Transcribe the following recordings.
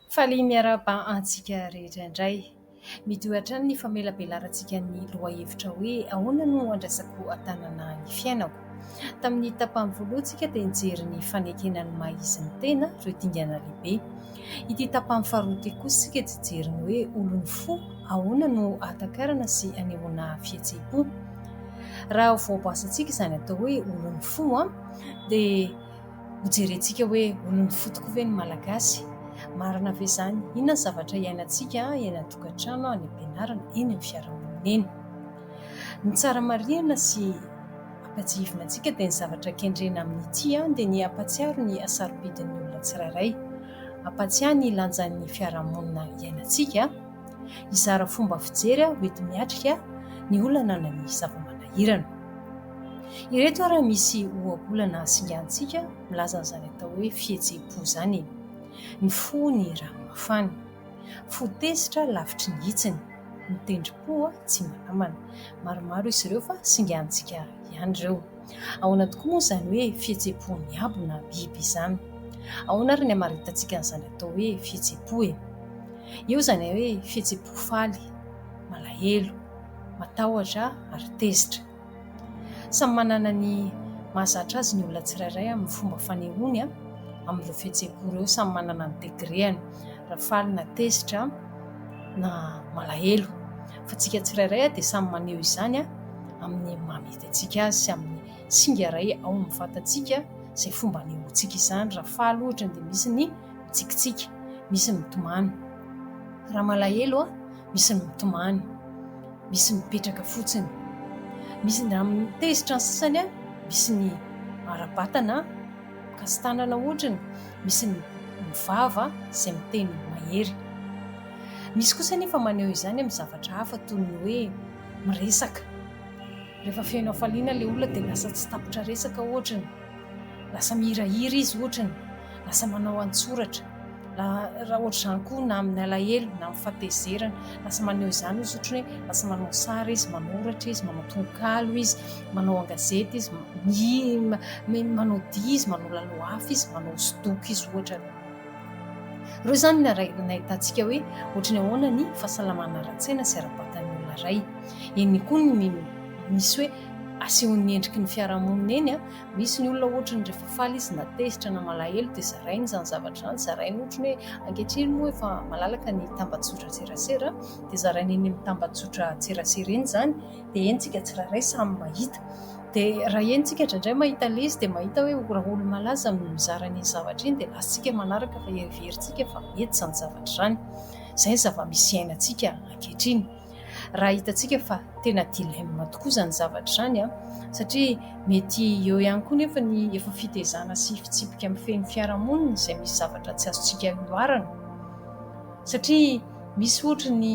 Faly miarahaba antsika rehetra indray. Mitohy hatrany ny famelabelarantsika ny lohahevitra hoe ahoana no andraisako an-tanana ny fiainako. Tamin'ny tapany voalohany isika dia nijery ny fanekena ny maha izy ny tena ireo dingana lehibe. Ity tapany faharoa ity kosa isika dia hijery ny hoe olon'ny fo ahoana no ahatakarana sy anehoana fihetseham-po. Raha voabasantsika izany atao hoe olon'ny fo dia... Ho jerentsika hoe olon'ny fo tokoa ve ny Malagasy? Marina ve izany? Inona ny zavatra iainantsika eny an-tokantrano, any am-pianarana, eny amin'ny fiarahamonina eny? Ny tsara marihina sy ampiatsihivina antsika dia ny zavatra kendrena amin'ity dia ny hampatsiaro ny hasarobidin'ny olona tsirairay, hampatsiahy ny lanjan'ny fiarahamonina iainantsika, Hizara fomba fijery aho hoenti-miatrika ny olana na ny zava-manahirana. Ireto ary misy ohabolana hasingantsika milaza an'izany atao hoe fihetseham-po izany e. Ny fo ny rano mafana. Fo tezitra lavitry ny hitsiny. Ny tendrim-po tsy manamana. Maromaro izy ireo fa singantsika ihany ireo. Ahoana tokoa moa izany hoe fihetseham-pon'ny abo na biby izany? Ahoana ary ny hamaritantsika an'izany atao hoe fihetseham-po e? Eo izany hoe fihetseham-po faly, malahelo, matahotra ary tezitra. Samy manana ny mahazatra azy ny olona tsirairay amin'ny fomba fanehoany amin'ireo fihetseham-po ireo, samy manana ny degreany raha faly na tezitra na malahelo fa isika tsirairay dia samy maneho izany amin'ny maha mety azy. antsika azy sy amin'ny singa iray ao amin'ny vatantsika izay fomba anehoantsika izany. Raha faly ohatra dia misy ny mitsikitsiky, misy ny mitomany. Raha malahelo, misy ny mitomany, misy ny mipetraka fotsiny. Misy ny mitezitra ny sasany, misy ny ara-batana, mikasi-tanana ohatra ny, misy ny mivava izay miteny mahery. Misy kosa anefa maneho izany amin'ny zavatra hafa toy ny hoe miresaka. Rehefa feno hafaliana ilay olona dia lasa tsy tapitra resaka ohatra ny, lasa mihirahira izy ohatra ny, lasa manao an-tsoratra, raha ohatr'izany koa na amin'ny alahelo na amin'ny fahatezerana, lasa maneho izany izy ohatra ny hoe lasa manao sary izy, manoratra izy, manao tononkalo izy, manao an-gazety izy, mihira, manao dihy izy, manao lalohafa izy, manao hosodoko izy ohatra ny. Ireo izany no nahitantsika hoe ohatra ny ahoana ny fahasalamana ara-tsaina sy ara-batan'ny olona iray. Eny koa ny ny misy hoe asehon'ny endriky ny fiarahamonina eny an! Misy ny olona ohatry ny rehefa faly izy na tezitra na malahelo dia zarainy izany zavatra izany, zarainy ohatry ny hoe ankehitriny moa efa malalaka ny tambajotran-tserasera dia zarainy eny amin'ny tambajotran-tserasera eny izany dia eny tsika tsirairay samy mahita dia raha eny tsika indraindray mahita le izy dia mahita hoe raha olo-malaza no mizara an'iny zavatra iny dia latsitsika manaraka fa heverintsika fa mety izany zavatra izany. Izay ny zava-misy iainantsika ankehitriny. Raha hitantsika fa tena dilemme tokoa izany zavatra izany an! satria mety eo ihany koa nefa ny efa fitezana sy fitsipika mifehy ny fiarahamonina izay misy zavatra tsy azontsika ihoarana satria misy ohatra ny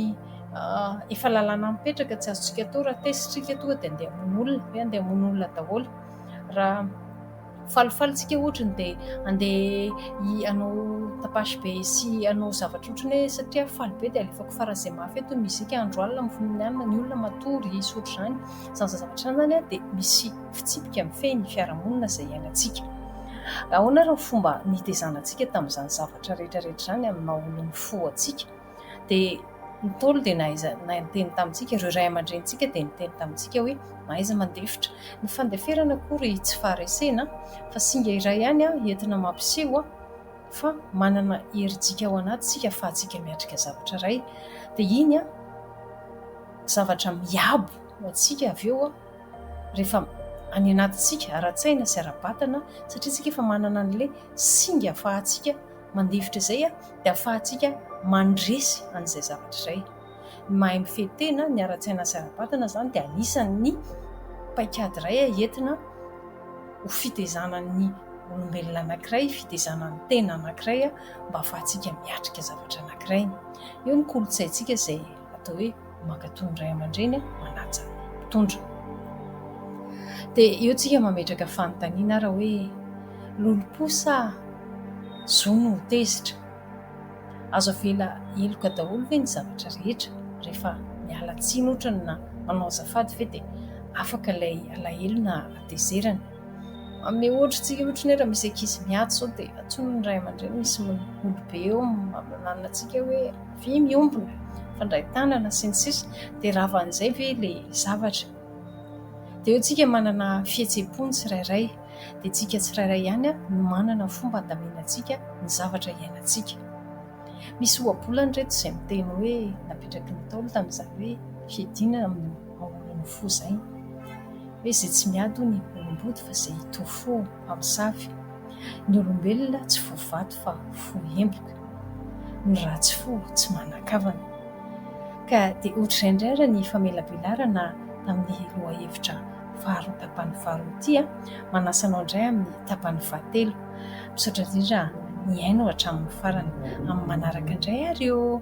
efa lalàna mipetraka tsy azontsika atao raha tesitrika toa dia andeha hamono olona dia andeha hamono olona daholo raha Falifaly tsika ohatra ny dia handeha hanao tapage be sy hanao zavatra ohatra ny hoe satria aho faly be dia alefako faran'ny izay mafy eto ny mozika andro alina mifono ny hanina ny olona matory hisy ohatra izany izany zazavatra izany zany dia misy fitsipika mifehy ny fiarahamonina izay hiainantsika ahoana ary ny fomba nitezanantsika tamin'izany zavatra rehetra rehetra izany amin'ny maha olon'ny fo antsika dia ny Ntaolo dia nahaiza niteny tamintsika, ireo ray aman-drenintsika dia niteny tamintsika hoe mahaiza mandefitra. Ny fandeferana akory tsy faharesena fa singa iray ihany entina mampiseho fa manana herijika ao anaty isika ahafahantsika miatrika zavatra iray. Dia iny zavatra miabo ho antsika avy eo rehefa any anatintsika ara-tsaina sy ara-batana satria isika efa manana an'ilay singa ahafahantsika Mandefitra izay dia ahafahantsika mandresy an'izay zavatra izay. Ny mahay mifehy tena, ny ara-tsaina sy ara-batana izany dia anisan'ny paikady iray entina ho fitaizanan'ny olombelona anankiray, fitaizana ny tena anankiray mba ahafahantsika miatrika zavatra anankiray. Io ny kolontsaintsika izay. atao hoe mankatò ny ray aman-dreny manaja mpitondra. Dia eo tsika mametraka fanontaniana ara hoe lolompo sa zo no ho tezitra? Azo avela heloka daholo ve ny zavatra rehetra rehefa miala tsiny otrany na manao azafady ve dia afaka ilay alahelo na hatezerana? Amin'ny ohatry tsika ohatry ny hoe raha misy ankizy miady izao dia antsoina ny ray aman-dreny misy miholo be eo maminanina antsika hoe vy miombona, fandray tanana sy ny sisa dia rava an'izay ve ilay zavatra. Dia eo tsika manana fihetseham-po ny tsirairay dia tsika tsirairay ihany no manana fomba andaminantsika ny zavatra iainantsika. Misy ohabolana ireto izay miteny hoe napetraky ny Ntaolo tamin'izany hoe fiadiana amin'ny Ahoana ny fo zay? Hoe zay tsy miady hono i olom-body fa zay hitory fo mpamosavy. Ny olombelona tsy fo vato fa fo emboka. Ny ratsy fo tsy manan-kavana. Ka dia ohatr'izay indray ary ny famelabelarana tamin'ny lohahevitra faharoa tapany faharoa ity a! Manasa anao indray amin'ny tapany fahatelo. Misaotra indrindra nihaino hatramin'ny farany. Amin'ny manaraka indray ary ô!